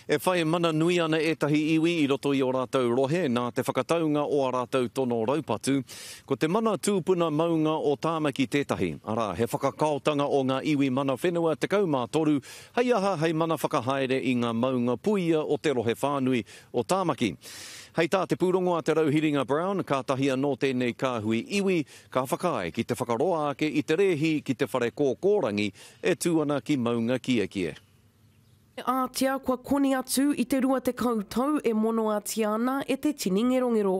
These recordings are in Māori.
E whai mana nui ana ētahi iwi i roto i ō rātou rohe nā te whakataunga o ā rātou tono raupatu. Ko te mana tūpuna maunga o Tāmaki tētahi, arā, he whakakaotanga o ngā iwi mana whenua 13 hei aha hei mana whakahaere i ngā maunga puia o te rohe whānui o Tāmaki. Hei tā te pūrongo a Te Rauhiringa Brown, kātahi anō tēnei kāhui iwi ka whakaae ki te whakaroa ake i te rēhi ki te whare kōkōrangi e tū ana ki Maungakiekie. E ātia kua koni atu i te rua tekau tau e monoatia ana e te tini ngerongero.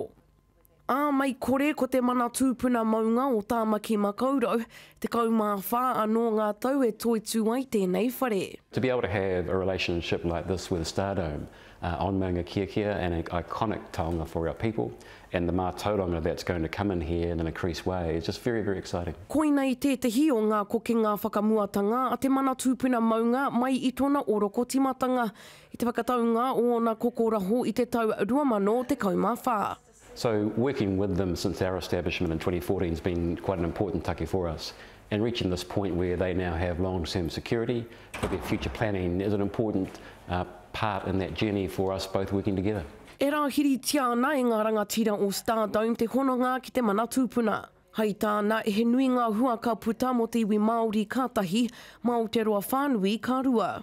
Ā, mei kore ko te mana tūpuna maunga o Tāmaki Makaurau, tekau mā whā anō ngā tau e toitū ai tēnei whare. To be able to have a relationship like this with Stardome on Maunga Kiakia and an iconic taonga for our people and the mātauranga that's going to come in here in an increased way is just very, very exciting. Koina i tētehi o ngā kokenga whakamuatanga a te mana tūpuna maunga mai i tōna oroko timatanga i te whakataunga o ōna kokoraho i te tau 2014. So working with them since our establishment in 2014 has been quite an important take for us. and reaching this point where they now have long-term security for their future planning is an important uh, part in that journey for us both working together. E rāhiritia ana e ngā rangatira o Stardome te hononga ki te mana tūpuna. Hai tāna, he nui ngā hua ka puta mō te iwi Māori ka tahi, mā Aotearoa whānui ka rua.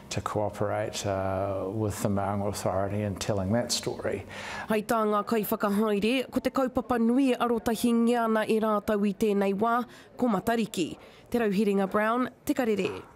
to co-operate with the Maunga Authority in telling that story. Hei tā ngā kaiwhakahaere, ko te kaupapa nui e arotahingia ana e rātou i tēnei wā, ko Matariki. Te Rauherenga Brown, Te Karere.